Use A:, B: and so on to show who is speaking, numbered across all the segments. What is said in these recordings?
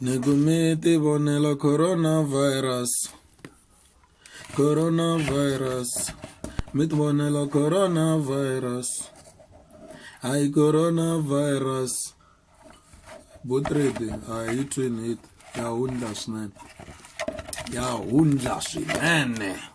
A: Nigumiti vonela coronavirus coronavirus mi ti vonela coronavirus hayi coronavirus vo trade a hi twini hit ya hundla swinene ya hundla swinene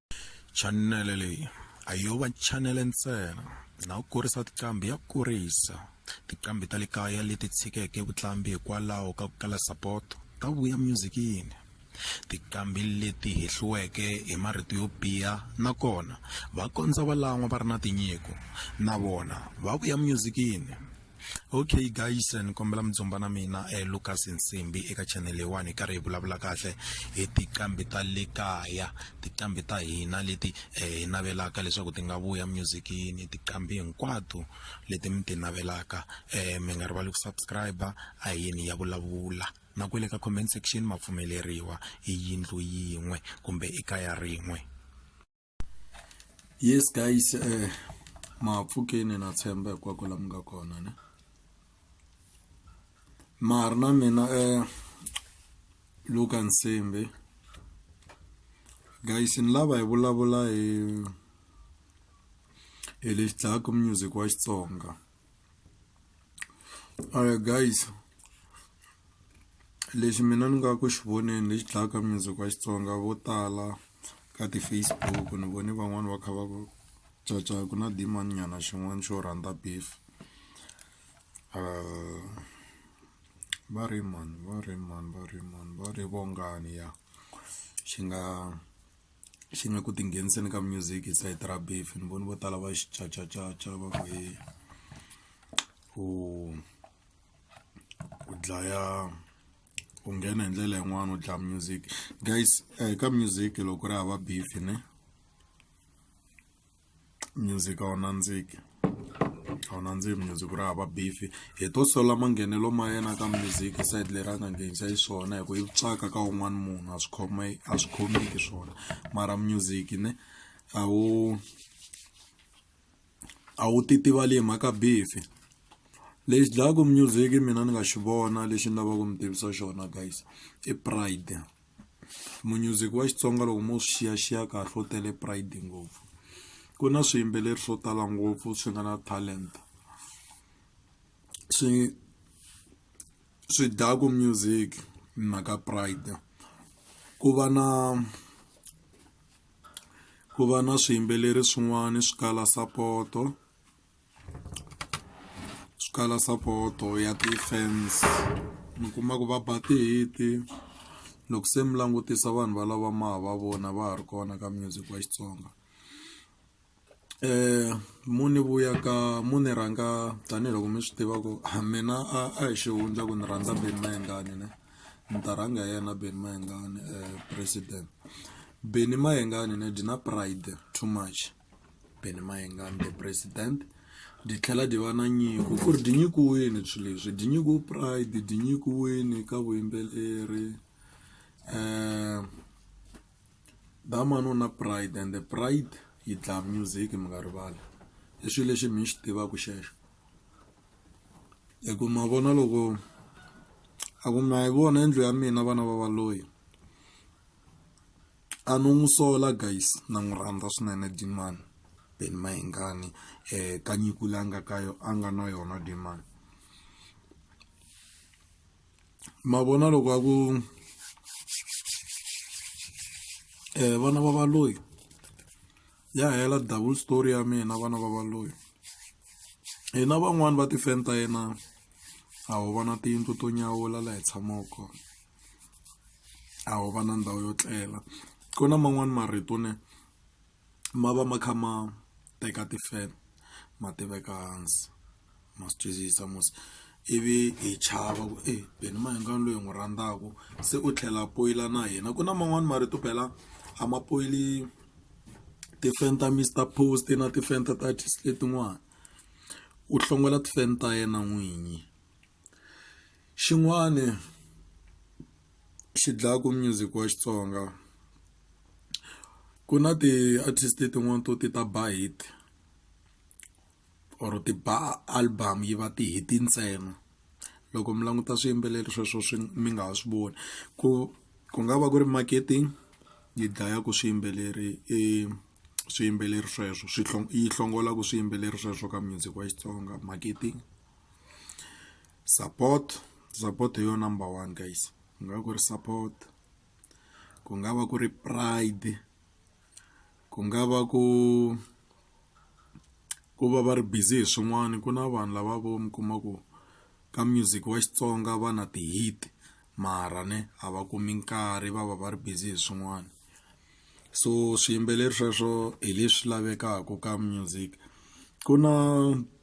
A: chanele leyi a yo va chanele ntsena na ku kurisa tiqambi ya kurisa tiqambi ta le kaya leti tshikeke vutlambi hikwalaho ka ku kala sapoto ta vuya myuzikini tiqambi leti hehliweke hi marito yo biha nakona va kondza va lan'wa va ri na tinyiko na vona va vuya myuzikini okay guys ni kombela mi dzumba na mina eh, lucas nsimbi eka channel leyiwani hi karhi hi vulavula kahle hi tiqambi ta le kaya tiqambi ta hina leti eh, hi navelaka leswaku ti nga vuya musicini tiqambi hinkwato leti mi ti navelaka eh, mi nga rivali ku subscribe a yini ya vulavula na kwele ka comment section ma pfumeleriwa i yindlu yin'we kumbe i kaya rin'we yes guys eh mapfukeni na tshemba hinkwako la mi nga kona ne mari na mina eh luka nsimbi guys ni lava hi vulavula hi hi lexi dlayaku music wa xitsonga alright guys lexi mina ni nga ku xi voneni lexi dlayaka mindzhoko ya xitsonga vo tala ka ti-facebook ni vone van'wani va kha va ku caca ku na dimani nyana xin'wana xo rhandza beef uh, va ri mani va ri mani va ri mani va ri vongani ya xi nga xin'we ku tingheniseni ka music hi side ra beef ni voni vo tala va xi cacacaca va ku hi ku ku dlaya ku nghena hi ndlela yin'wana u dlaya music guys eh, ka music loko ri hava beef ne music a wu nandziki a wu nandzihi music ku ri hava beef hi to sola manghenelo ma yena ka music side leri a nga nghenisa xiswona hi ku yi tswaka ka un'wana munhu a swi khome a swi khomeki swona mara music ne a wu a wu titivali hi mhaka beef lexi dlayaku music mina ni nga xi vona lexi ni lavaka ku mi tivisa xona guys i pride. munyuziki wa xitsonga loko mo swi xiyaxiya kahle u tele pride ngopfu ku na swiyimbeleri swo tala ngopfu swi nga na talent swi swi dyaku music mhaka pride ku va na ku va na swiyimbeleri swin'wana swi kala sapoto. swi kala sapoto ya ti-fans mi kuma ku va ba ti-hit-i loko se mi langutisa vanhu valava ma ha va vona va ha ri kona ka music wa Xitsonga mu ni vuya ka mu ni rhanga tanihiloko mi swi tiva ku a mina a a hi xihundla ku ni rhandza Benny Mayengani ne ni ta rhanga hi yena Benny Mayengani president Benny Mayengani ne dyi na pride too much Benny Mayengani the president di tlhela di va na nyiko ku ri di nyikiwini swilo leswi di nyikiwe pride di nyikiwini ka vuyimbeleri um damani u na pride and the pride yi dlaya music mi nga rivali i swilo leswi mi swi tivaka xexo hi ku ma vona loko a ku ma yi vona yindlu ya mina vana va va loyi. a no n'wi sola guys na n'wi rhandza swinene dimani ben mahingani um eh, ka nyiku leyi a nga ka yo a nga na yona dimani ma vona loko a ku um vana va valoyi ya hela double story ya mina vana va valoyi hina van'wani va tifeni ta yena a ho vana tiyindlu to nyawula laha hi tshamaka kona a wu va na ndhawu yo tlela ku na man'wani marito ne ma va ma kha ma teka tifeme ma ti veka hansi ma swi twisisa mos ivi hi chava ku e beni mahingani loyi hi n'wi rhandzaka se u tlhela poyila na hina ku na man'wani marito phela a ma poyili tifeme ta Mister Post na tifeme ta Titis letin'wani u hlongola tifeme ta yena n'winyi. Xin'wani xi dlaku music wa Xitsonga ku na ti-artist tin'wani to ti ta ba hit or ti ba album yi va ti-hit ntsena loko mi languta swiyimbeleri sweswo swi mi nga ha swi voni ku ku nga va ku ri marketing yi dlayaku swiyimbeleri i swiyimbeleri sweswo swi yi hlongolaku swiyimbeleri sweswo ka music wa Xitsonga marketing. support support hi yo number one guys ku nga va ku ri support ku nga va ku ri pride ku nga va ku ku va va ri busy hi swin'wana ku na vanhu lava vo mi kuma ku ka music wa xitsonga va na ti-hit mara ne a va kumi nkarhi va va va ri busy hi swin'wana. so swiyimbeleri sweswo hi leswi lavekaka ka music ku na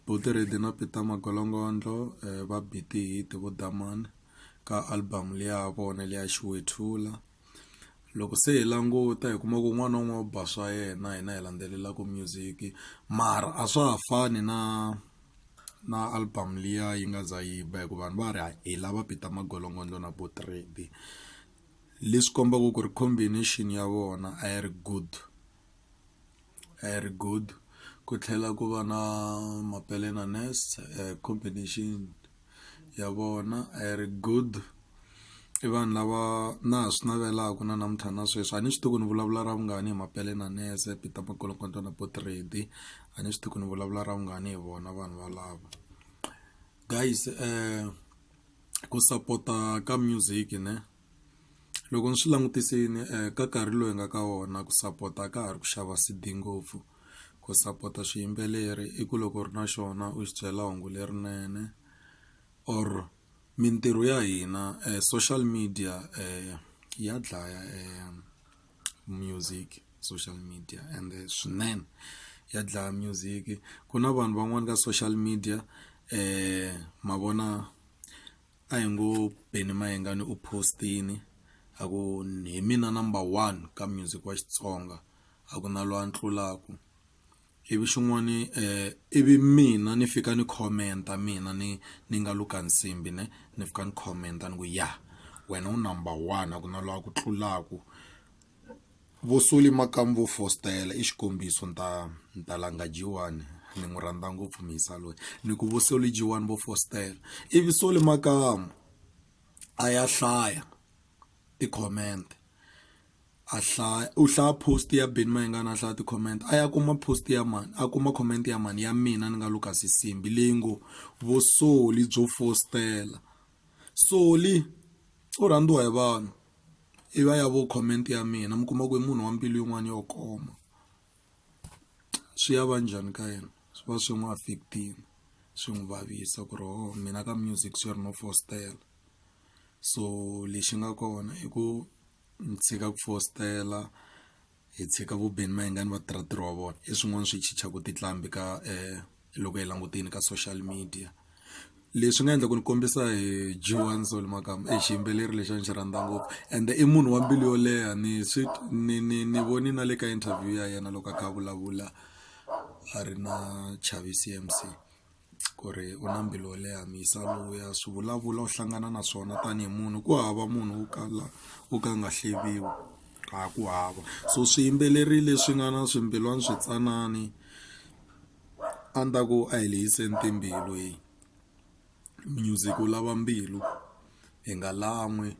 A: botiredi na peter magolongondo um eh, va biti hit vo damani ka album leya vona leya xiwethula loko se hi languta hi kuma ku un'wana na un'wana u ba swa yena hina hi landzelelaka music mara a swa ha fani na na album liya yi nga za yi ba hikuva vanhu va ri hi lava peter magolongondo na botiredi leswi kombaka ku ri combination ya vona a yi ri good a yi ri good ku tlhela ku va na Mapele na Nest combination ya vona a yi ri good i vanhu lava na ha swi navelaka na namuntlha na sweswi a ni swi tivi ku ni vulavula ra vungani hi Mapele na Nest Peter Makholokota na Portrait-i a ni swi tivi ku ni vulavula ra vungani hi vona vanhu valava guys . ku sapota ka music ne loko ni swi langutisini ka nkarhi lowu hi nga ka wona ku sapota ka ha ri ku xava C_D ngopfu ku sapota swiyimbeleri i ku loko u ri na xona u xi byela hungu lerinene or mintirho ya hina social media ya dlaya . music social media ende swinene ya dlaya music ku na vanhu van'wani ka social media ma vona a hi ngo Benny Mayengani u post-ini a ku hi mina number one ka music wa Xitsonga a ku na loyi a ni tlulaku. ivi xin'wani eh, ivi mina ni fika ni commenta mina ni ni nga luka nsimbi ne ni fika ni commenta ni ku ya wena u number one a ku na lowa ku tlulaku vosoli makamu vo fostela i xikombiso ni ta ni ta langa jiwani ni n'wi rhandza ngopfu misa loyi ni ku vosoli jiwani vo fostela ivi soli makamu a ya hlaya ti-comment a hlaya u hlaya post ya Benny Mayengani a hlaya ti-comment a ya kuma post ya mani a kuma comment ya mani ya mina ni nga Lukas Nsimbi leyi ngo vo Solly byo fositela Solly u rhandziwa hi vanhu i va ya vo comment ya mina mi kuma ku i munhu wa mbilu yin'wana yo koma swi ya va njhani ka yena swi va swi n'wi affect-ini swi n'wi vavisa ku ri ho mina ka music swi ri no fositela so lexi nga kona i ku ni tshika ku fositela hi tshika vu ben mayengani va tirha ntirho wa vona i swin'wana swi chichaka tinqambi ka loko hi langutile ka social media leswi nga endla ku ni kombisa hi joan soul makamu i xiyimbeleri lexi a ni xi rhandza ngopfu ende i munhu wa mbilu yo leha ni swi ni ni ni voni na le ka interview ya yena loko a kha a vulavula a ri na Chavis C_M_C. ku ri u na mbilu yo leha muyisa luya swi vulavula u hlangana na swona tanihi munhu ku hava munhu wo kala wo ka a nga hleviwi a ku hava so swiyimbeleri leswi nga na swimbilwana swi tsanani a ni ta ku a hi lehiseni timbilu music wu lava mbilu. hi nga lan'wi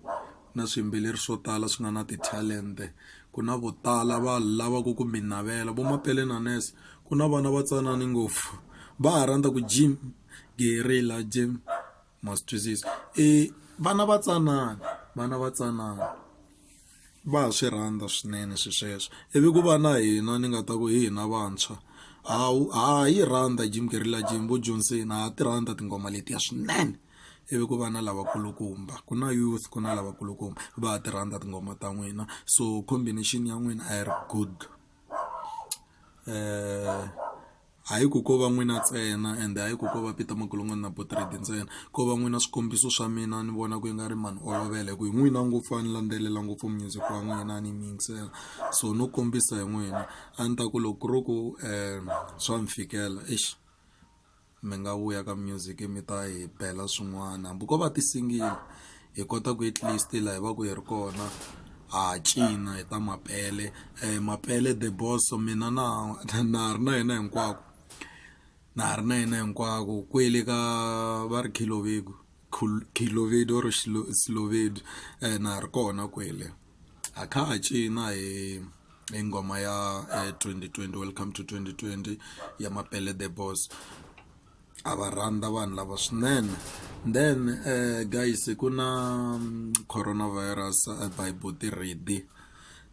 A: na swiyimbeleri swo tala swi nga na ti-talent-e ku na vo tala va lavaka ku mi navela vo Mapele na Ness ku na vana va tsanani ngopfu va ha rhandza ku Jim Guerrilla Jim ma swi twisisa i vana va tsanana vana va tsanana va ha swi rhandza swinene swi sweswo ivi ku va na hina ni nga ta ku hi hina vantshwa ha ha yi rhandza Jim Guerrilla Jim vo Johnson ha ti rhandza tinghoma letiya swinene. ivi ku va na lavakulukumba ku na youth ku na lavakulukumba va ha ti rhandza tinghoma ta n'wina so combination ya n'wina a yi ri good um hayi ku ko va n'wina ntsena ende hayi ku ko va peter magolongwana na botrade ntsena ko va n'wina swikombiso swa mina ni vona ku yi nga ri mani olovela hi ku hi n'wina ngopfu a ni landzelela ngopfu music wa n'wina a ni yingisela so no kombisa hi n'wina a ni ta ku loko ku ri ku um swa ni fikela exi mi nga vuya ka music mi ta hi bela swin'wana hambi ko va ti-single hi kota ku at least laha hi va ku hi ri kona ha cina hi ta mapele mapele the boss mina na na ha ri na yena hinkwako na ha ri na yena hinkwako kwele ka va ri khilobeku khilobedu or na ha ri kona kwele. ha kha ha cina hi hi nghoma ya 2020 welcome to 2020 ya mapele the boss a va rhandza vanhu lava swinene then uh, guys ku na mm, coronavirus uh, bible tirhidi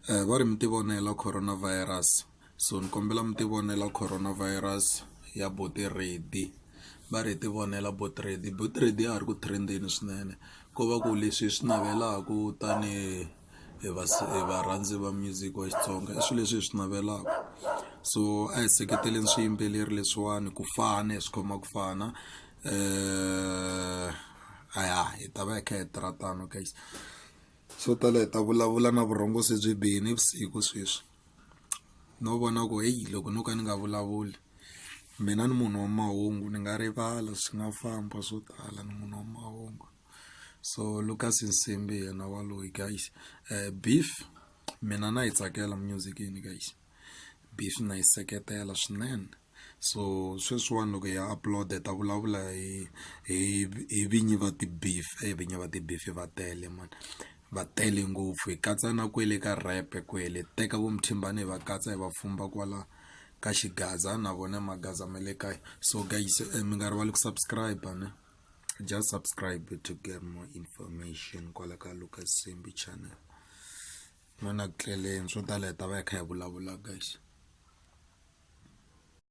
A: uh, eh, va ri mi tivonela coronavirus So ni kombela mi ti vonela Corona Virus ya buti Reddy va ri hi ti vonela buti Reddy buti Reddy ya ha ri ku trend-eni swinene ko va ku leswi hi swi navelaka tanihi hi va hi varhandzi va music wa Xitsonga i swilo leswi hi swi navelaka so a hi seketeleni swiyimbeleri leswiwani ku fana hi swi khoma ku fana a ya hi ta va hi kha hi tirha tano guys so tala hi ta vulavula na vurhongo se byi bihini vusiku sweswi. no vona ku heyi loko no ka ni nga vulavuli mina ni munhu wa mahungu ni nga rivala swi nga famba swo tala ni munhu wa mahungu so Lucas Nsimbi hi yena wa loyi guys beef mina na yi tsakela music yini guys beef na yi seketela swinene. so sweswiwani loko ya upload hi ta vulavula hi hi hi vinyi va ti-beef e vinyi va ti-beef va tele mani va tele ngopfu hi katsa na kwele ka rap kwele teka vo Mthimbani hi va katsa hi va pfumba kwala ka xigaza na vona magaza ma le kaya so guys mi nga rivali ku subscribe ne just subscribe to get more information kwala ka Lucas Simbi channel n'wana ku tleleni swo tala hi ta va hi kha hi vulavula guys